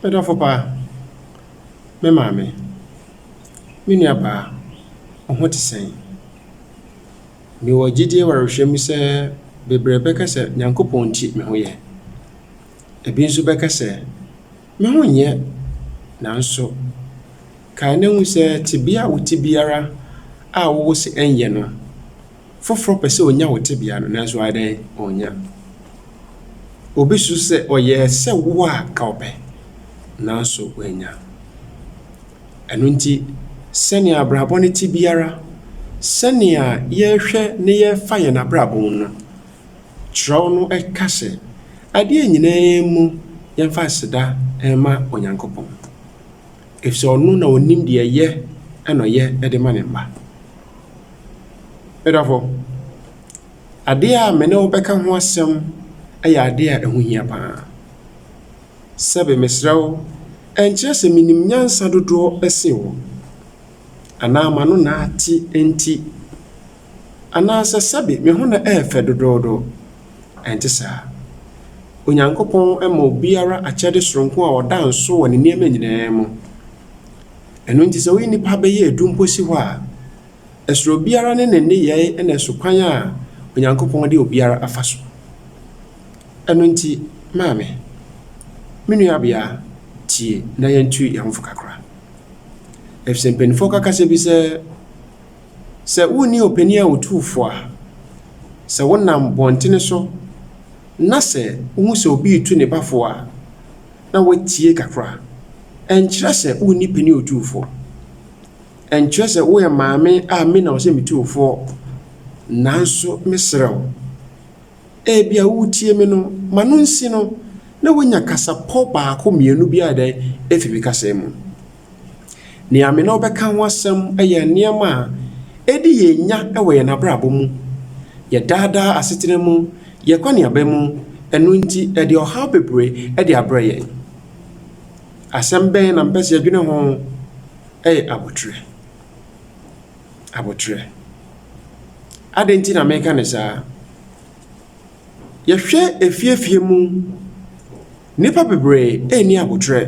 Me dɔfo pa, me maame, me nuabaa, wo ho te sɛn? Mewɔ gyedie wɔ awerɛhwɛ mu sɛ bebree bɛka sɛ Nyankopɔn nti me ho yɛ. Ebi nso bɛka sɛ, Me ho nyɛ. Nanso kae na hu sɛ tebea a wote biara a wowɔ sɛ ɛnyɛ no, Foforɔ pɛ sɛ ɔnya wo tebea no, nanso wayɛ dɛn? Ɔnnya. Ɔbɛsusu sɛ ɔyɛɛ sɛ wo a ka ɔpɛ, nanso wannya. Ɛno nti, sɛnea abrabɔ no te biara, sɛnea yɛhwɛ na yɛfa yɛn abrabɔ mu no, Kyerɛw no ka sɛ, Adeɛ nyinaa mu yɛmfa aseda mma Onyankopɔn. Efisɛ ɔno na onim deɛ ɛyɛ na ɔyɛ de ma ne mma. Me dɔfo, adeɛ a me ne wo bɛka ho asɛm yɛ adeɛ a ɛho hia pa ara. Sɛbe mesrɛ wo, ɛnkyerɛ sɛ menim nyansa dodoɔ sen wo, anaa m'ano na ate nti. anaasɛ sɛbe me ho na ɛyɛ fɛ dodoodo. Ɛnte saa. Onyankopɔn ma obiara akyɛde soronko a ɔda nsow wɔ ne nneɛma nyinaa mu. Ɛno nti sɛ woyi nnipa bɛyɛ edu mpo si hɔ a, ɛsoro obiara ne ne nneyɛe na ɛso kwan a Onyankopɔn de obiara afa so. Ɛno nti, maame, me nuabea, tie na yɛntu yɛn ho fo kakra. Efisɛ mpanyimfo ka kasa bi sɛ, Sɛ wunni ɔpanyin a otu fo a, sɛ wonam bɔntene so na sɛ wuhu sɛ obi retu ne ba fo a, na woatie kakra. Ɛnkyerɛ sɛ wunni panin a otu fo. Ɛnkyerɛ sɛ woyɛ maame a me na ɛwɔ sɛ mitu wo fo. Nanso mesrɛ wo, ebia wuretie me no, ma no nsi no na wanya kasapɔ baako mmienu bi a ɛyɛ dɛn? Efi me kasa yi mu. Nea me ne wo bɛka ho asɛm yɛ nneɛma a edi yɛn nya wɔ yɛn abrabɔ mu, yɛn daa daa asetena mu, yɛn akɔneaba mu, ɛno nti ɛde ɔhaw bebree de abrɛ yɛn. Asɛm bɛn na mepɛ sɛ yɛdwene ho? Ɛyɛ abotire. Abotire. Adɛn nti na meka no saa? Yɛhwɛ afie afie mu. Nnipa bebree nni aboterɛ.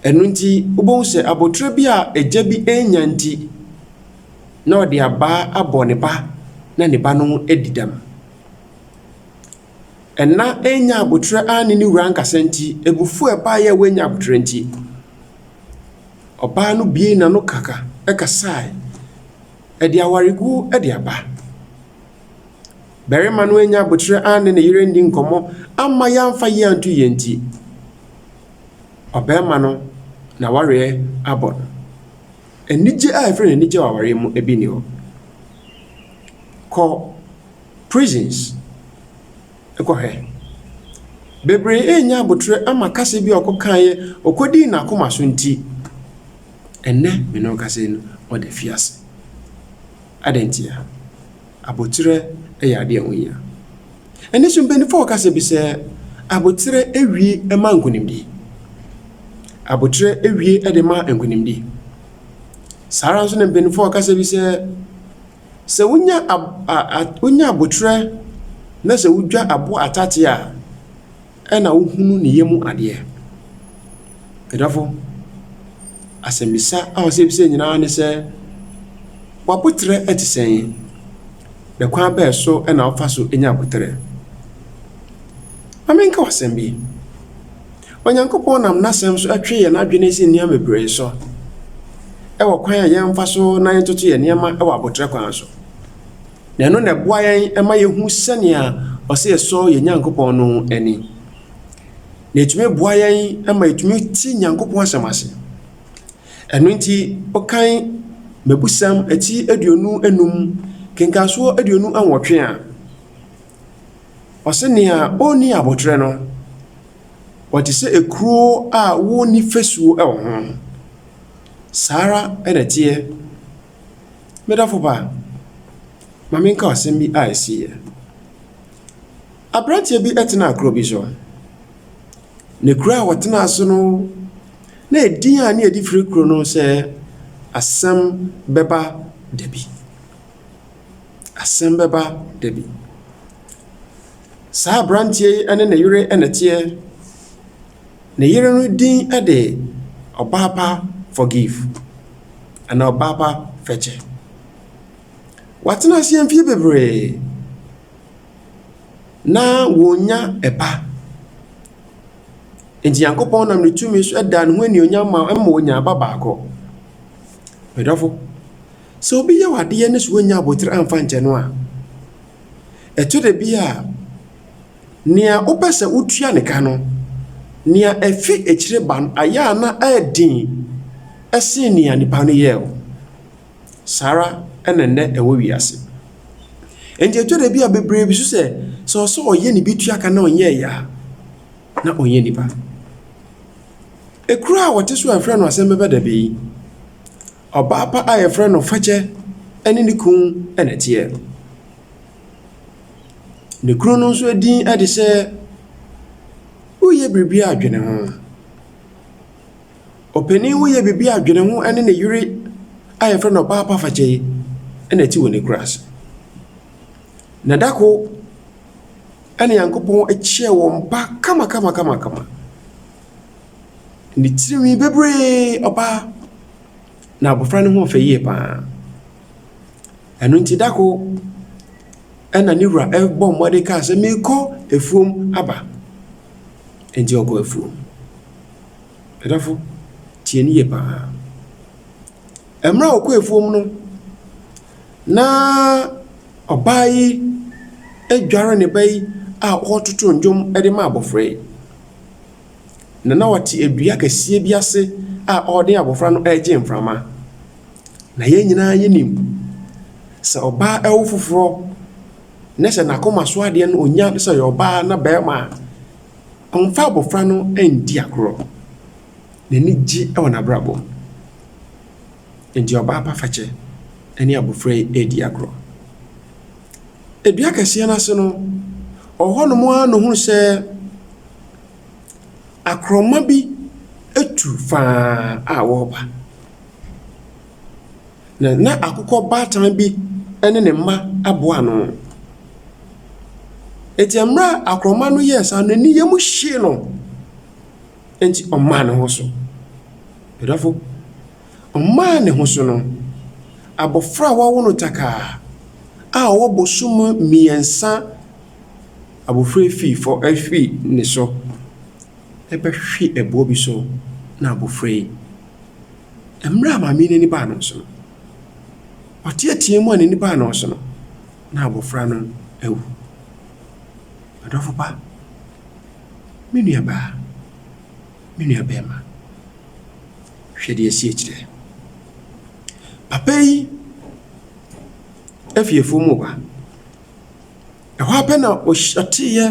Ɛno nti wobɛhu sɛ aboterɛ bi a agya bi annya nti, na ɔde abaa abɔ ne ba na ne ba no adi dɛm. Ɛnã annya aboterɛ anne ne wura ankasa nti, abufuo a ɛbaeɛ a wannya aboterɛ nti, ɔbaa no buee n'ano kaka kasaeɛ. Ɛde awaregu de aba. Barima no annya aboterɛ anne ne yere anni nkɔmmɔ amma yɛamfa yei anto yɛn nti, ɔbarima no n'awareɛ abɔ no. Anigye a ɛfiri n'anigye wɔ awareɛ mu bi nni hɔ. Kɔ prisons kɔhwɛ. Bebree annya aboterɛ ama kasa bi a ɔkɔkaeɛ, ɔkɔdii n'akoma so nti, ɛnnɛ me ne wo kasa yi no, ɔda afiase. Adɛn ntia? Aboterɛ yɛ adeɛ a ɛho hia. Ɛno nso mpaninfoɔ wɔ kasa bi sɛ, aboterɛ wie ma nkonimdie. Aboterɛ wie de ma nkonimdie. Saa ara nso na mpaninfoɔ wɔ kasa bi sɛ, sɛ wonya ab a a wonya aboterɛ na sɛ wodwa aboɔ atateɛ a. Ɛna wohunu ne yɛ mu adeɛ. Ɛdɔfo, asɛmmisa a ɔsɛ yɛbisa yɛn nyinaa ne sɛ, W'aboterɛ te sɛn, na kwan bɛn so na wofa so nya aboterɛ? Ma menka wo asɛm bi. Onyankopɔn nam N'asɛm so twe yɛn adwene si nneɛma bebree so wɔ kwan a yɛmfa so na yɛntoto yɛn nneɛma wɔ aboterɛ kwan so. na ɛno na ɛboa yɛn ma yɛhu sɛnea ɔsɛ yɛsɔ yɛn Nyankopɔn no ani. Na ɛtumi boa yɛn ma yɛtumi ti Nyankopɔn asɛm ase. Ɛno nti, wokan Mmebusɛm ti aduonu enum, kenkansoɔ aduonu nwɔtwe a, ɔse nea ɔnni aboterɛ no, ɔte sɛ ekuro a wɔnni fasuo wɔ ho. Saa ara na ɛteɛ. Me dɔfo ba, ma menka asɛm bi a esiiɛ. Aberanteɛ bi tenaa kuro bi so, na kuro a ɔtenaa so no, na edin a na wɔde frɛ kuro no sɛ Asɛm Bɛba Da Bi. Asɛm Bɛba Da Bi. Saa aberanteɛ yi ne ne yere na ɛteɛ. Ne yere no din de Ɔbaapa Forgive anaa Ɔbaapa Fɛkyɛ. Wɔatena ase mfeɛ bebree na wɔnnya ba. Nti Nyankopɔn nam ne tumi so da ne ho animuonyam ma ma wɔnya ba baako. Me dɔfo, sɛ obi yɛ wo adeɛ ne sɛ wannya abotire amfa ankyɛ no a, ɛtɔ da bi a, Nea wopɛ sɛ wutua no ka no, nea afi akyiri ba no ayɛ a na ɛyɛ den sen nea nnipa no yɛe no. Saa ara na nnɛ ɛwɔ wiase. Enti ɛtɔ da bi a bebree bi su sɛ, sɛ ɔwɔ sɛ ɔyɛ ne bi tua ka na ɔnyɛe a, na ɔnyɛ nnipa. Ekuru a wɔte so a wɔfrɛ no asɛmmɛbadabe yi, ɔbaa pa a wɔfrɛ no Fakyɛ ne ne kunu na ɛteɛ. Ne kunu no nso din de sɛ Woyɛ Biribi Adwene Ho. Ɔpanin Woyɛ Biribi Adwene Ho ne ne yere a wɔfrɛ no Ɔbaa Pa Fakyɛ yi na ɛte wɔn akuraase. Na da koro, ɛnna Nyankopɔn kyekyɛɛ wɔn ba kamakamakamakama. Ne tirinwi bebiree, ɔbaa. Na abofra no ho yɛ fɛ yie pa ara. Ɛno nti, da koro na ne wura bɔɔ mmɔden kaa sɛ, Merekɔ afuom aba. Enti ɔkɔɔ afuom. Adɔfo, tie ne yie pa ara. Mmerɛ a ɔkɔɔ afuom no, na ɔbaa yi adware ne ba yi a ɔretoto nnwom de ma abɔfra yi. na na ɔte dua kɛseɛ bi ase a ɔde abɔfra no regye mframa. Na yɛn nyinaa yɛnim sɛ ɔbaa awo foforɔ na sɛ n'akoma so adeɛ no ɔnya no sɛ ɔyɛ ɔbaa anaa barima a, ɔmfa abɔfra no nndi agorɔ. N'ani gye wɔ n'abrabɔ mu. Enti ɔbaa pa fakyɛ ne abofra yi redi agorɔ. Dua kɛseɛ no ase no, ɔwɔ hɔnom ara na ɔhunu sɛ akorɔma bi atu faa a wɔreba. Na na akokɔ baatan bi ne ne mma aboa ano. Enti mmerɛ a akorɔma no yɛɛ saa no, n'ani yam hyee no. Enti ɔmaa ne ho so. M'dɔfo, ɔmaa ne ho so no, abɔfra a wɔawo no takaa a ɔwɔ bosoom mmiɛnsa abofra fii fɔ ɛhwi ne so ɛbɛhwe ɛboɔ bi so na abofra yi ɛmmerɛ a maame yi n'ani baa no so no ɔteatea mu a n'ani baa no so no na abofra no awu. M'dɔfo pa. Me nuabaa, me nuabarima, hwɛ deɛ ɛsi akyire. Papa yi firi afuom reba. Ɛhɔ ara pɛ na ɔhyi ɔteeɛ,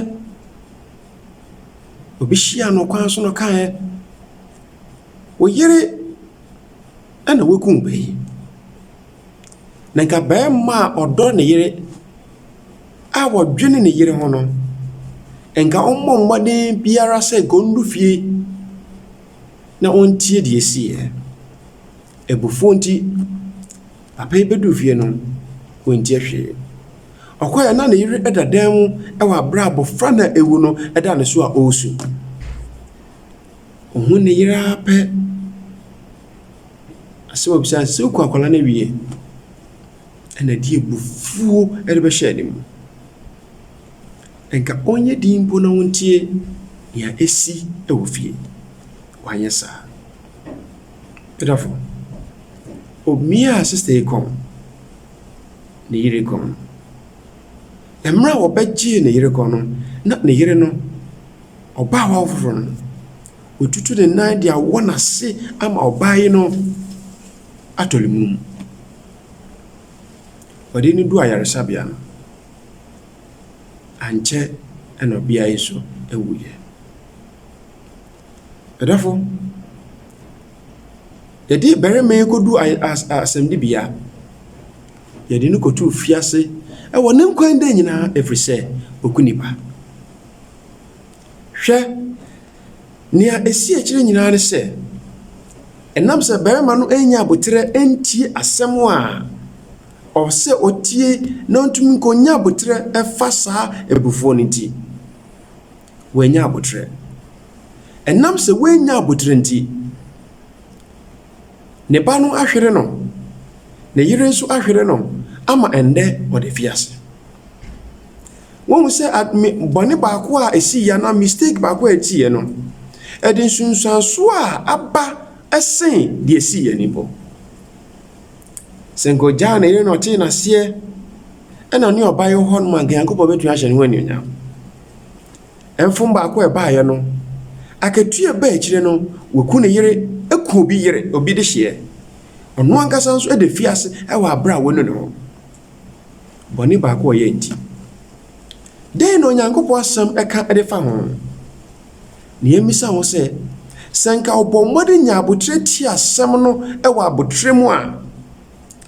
obi hyiaa no kwan so na ɔkaeɛ, Wo yere na wakum wo ba yi. Na nka barima a ɔdɔ ne yere a ɔdwene ne yere ho no, nka ɔmmɔ mmɔden biara sɛ nka ɔnnu fie na ɔntie deɛ ɛsiiɛ. Abufuo nti, papa yi bɛduu fie no, wantie hwee. Ɔkɔeɛ na ne yere da dan mu wɔ berɛ a abɔfra no a awu no da ne so a ɔresu. Ɔhunu ne yere ara pɛ, asɛm a ɔbisae no, sɛ woku akwadaa no awie a, ɛnna ɛde abufuo de bɛhyɛɛ ne mu. Nka ɔnyɛ dinn mpo na ɔntie deɛ ɛresi wɔ fie. Wanyɛ saa. M'adamfo, omiaa sista yi kɔn, ne yere kɔn. Mmerɛ a wɔbɛgyee ne yere kɔn no, na ne yere no, Ɔbaa hɔ foforɔ no, watutu ne nan de awɔ n'ase ama ɔbaa yi no atɔ ne mu. Wɔde no duu ayaresabea no, ankyɛ na ɔbea yi nso wuiɛ. Ɔdɔfo, yɛde barima yi kɔduu aya as asɛnnibea. Yɛde no kɔtoo afiase wɔ ne nkwa nna nyinaa ɛfiri sɛ, ɔku nnipa. Hwɛ, nea esi akyiri nyinaa ne sɛ, ɛnam sɛ barima no annya aboterɛ antie asɛm a ɔpɛ sɛ ɔtie na ɔntumi nkɔnya aboterɛ mfa saa abufuo no nti, wannya aboterɛ. Ɛnam sɛ wannya aboterɛ nti, ne ba no ahwere no, ne yere nso ahwere no ama ɛnnɛ ɔda afiase. Woahu sɛ ad, me, bɔne baako a esiiɛ anaa mistake baako a ɛtiiɛ no, ɛde nsunsuansoɔ a aba sen deɛ ɛsiiɛ no mpo. Sɛ anka ɔgyaa ne yere na ɔtee no aseɛ, ɛna ɔne ɔba yi wɔ hɔ nom a, anka Nyankopɔn bɛtumi ahyɛ ne ho animuonyam. Mfom baako a ɛbaeɛ no, akatua a ɛbaa akyire no, waku ne yere, aku obi yere, obi dehyeɛ. Ɔno ankasa nso da afiase wɔ aberɛ a wanu ne ho. bɔne baako a ɔyɛe nti. Dɛn na Onyankopɔn Asɛm ka de fa ho? Nea emmisa ho sɛ, sɛ anka ɔbɔ mmɔden nya abotire tie asɛm no wɔ abotire mu a,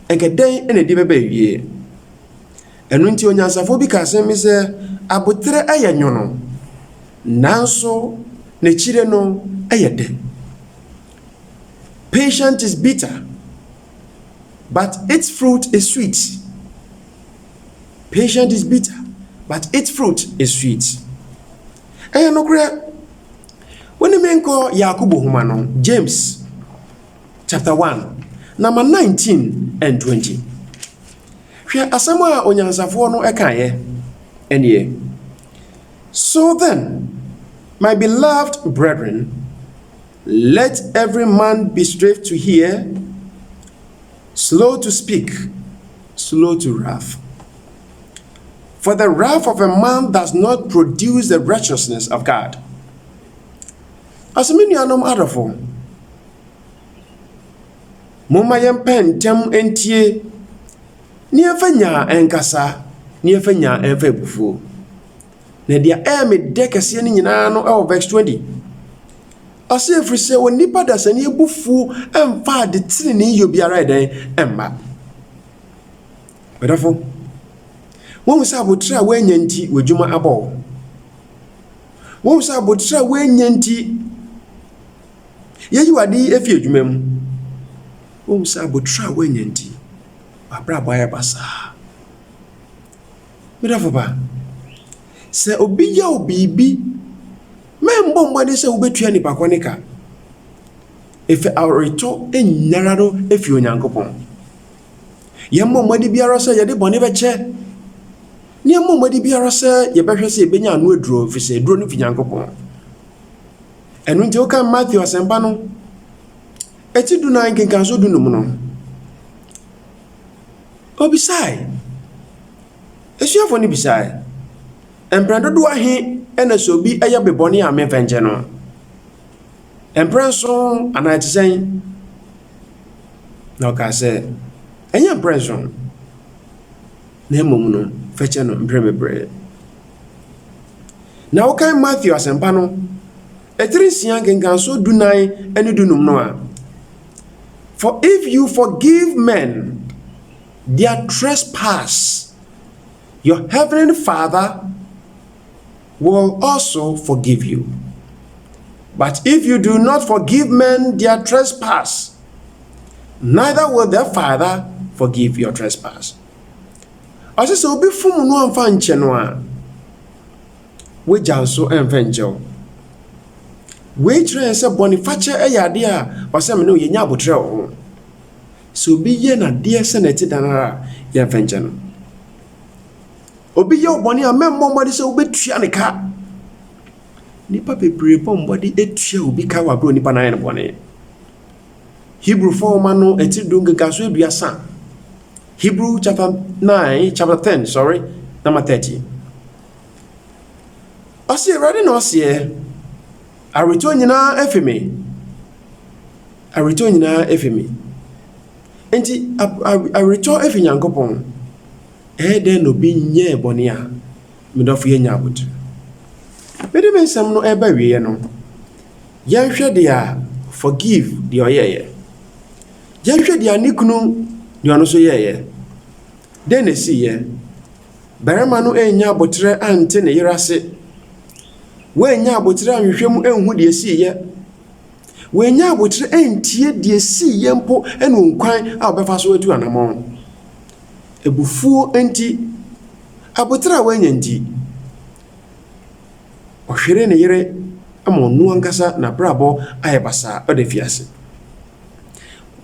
anka dɛn na ɛde bɛba awiei? Ɛno nti onyansafo bi ka asɛm bi sɛ, Abotire yɛ nwono, nanso n'akyire no yɛ dɛ. Patient is bitter. but its fruit is sweet, patience is bitter, but its fruit is sweet. Ɛyɛ nokorɛ. Wone me nkɔ Yakobo Nwoma no, James chapter one, nama nineteen and twenty. Hwɛ asɛm a onyansafoɔ no kaeɛ nie, So then, my beloved brethren, Let every man be swift to hear, slow to speak, slow to wrath, for the wrath of a man does not produce the righteousness of God. Ɔsɛ me nuanom adɔfo, momma yɛmpɛ ntɛm ntie, ne yɛmfa nyaa nkasa, ne yɛmfa nyaa mfa abufuo. Na deɛ ɛyɛ me dɛ kɛseɛ no nyinaa no wɔ verse 20. Ɔse ɛfiri sɛ onipa dasani abufuo mfa ade tenenee yɛ obiara ɛdɛn mma. Ɔdɔfo, wohu sɛ abotire a woanya nti w'adwuma abɔ wo. Wohu sɛ abotire a woanya nti yɛyi w'ade yi afi adwuma mu. Wohu sɛ abotire a woanya nti w'abrabɔ ayɛ basaa. Me dɔfo ba, sɛ obi yɛ wo biribi, mɛmbɔ mbɔdzen sɛ wobetua nyimpa kor ne ka. Efi awortɔ nyinara do efi Onyankopɔn. Yɛmbɔ mbɔdzen biara sɛ yɛdze bɔn bɛkyɛ, na yɛmbɔ mbɔdzen biara sɛ yɛbɛhwɛ dɛ yebenya ano eduro, efisɛ eduro no fi Nyankopɔn. Ɛno ntsi wokan Matthew Asɛmpa no, etsi dunan nkenkanso dunum no, Obisae. Asuafo no bisae, Mpɛn dodow ahe na sɛ obi yɛ me bɔne a memfa nkyɛ no? Mprɛnson anaa ɛte sɛn? Na ɔkaa sɛ, Ɛnyɛ mprɛnson, na mmom no, fa kyɛ no mprɛbebree. Na wokan Matthew Asɛmpa no Etire nsia nkenkansoɔ dunan ne dunum no a, For if you forgive men their trespass, your heavenly Father will also forgive you, but if you do not forgive men their trespass, neither will the Father forgive your trespass. Ɔse sɛ obi fom no amfa ankyɛ no a. w'agya nso mfa nkyɛ wo. Wei kyerɛ yɛn sɛ bɔne fakyɛ yɛ adeɛ a ɔsɛ me ne wo yɛnya aboterɛ wɔ ho. Sɛ obi yɛ no adeɛ sɛdeɛ ɛte dɛn ara a, yɛmfa nkyɛ no. Obi yɛ wo bɔne a, mɛmmɔ mmɔden sɛ wobɛtua no ka. Nnipa bebree bɔ mmɔden tua obi ka wɔ aberɛ a onipa no ayɛ no bɔne. Hebrifoɔ nwoma no ɛtiri du nkekasoɔ aduasa, Hebrew chapter nine, chapter ten, sorry, number thirty. Ɔse, Awurade na ɔseɛ, aweretɔ nyinaa afi me, aweretɔ nyinaa afi me. Enti aweretɔ afi Nyankopɔn, ɛyɛ dɛn na obi nyɛɛ bɔne a? Me dɔfo yɛnnya aboterɛ. Mede me nsɛm no ɛreba awieɛ no, yɛnhwɛ deɛ forgive deɛ ɔyɛeɛ. Yɛnhwɛ deɛ ne kunu deɛ ɔno nso yɛeɛ. Dɛn na esiiɛ? Barima no annya aboterɛ ante ne yere ase. Wannya aboterɛ anhwehwɛ mu anhu deɛ esiiɛ. Wannya aboterɛ antie deɛ esiiɛ mpo ne ɔkwan a ɔbɛfa so atu anammɔn. Abufuo nti, aboterɛ a wannya nti, ɔhweree ne yere ma ɔno ankasa n'abrabɔ ayɛ basaa, ɔda afiase.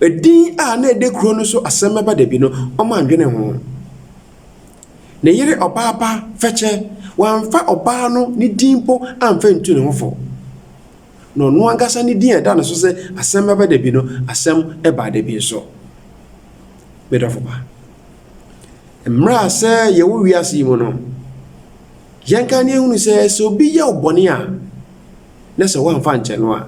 Edin a na edi kurow no so asɛm bɛba da bi no, wɔandwene ho. Ne yere ɔbaa pa Fɛkyɛ, wɔamfa ɔbaa no ne din mpo amfa antu ne ho fo. Na ɔno ankasa ne din a ɛda no so sɛ asɛm bɛba da bi no, asɛm baa da bi nso. Me dɔfo pa, mmrɛ a sɛ yɛwɔ wiase yi mu no, yɛnka na yɛnhunu sɛ, sɛ obi yɛ wo bɔne a, na sɛ woamfa ankyɛ no a,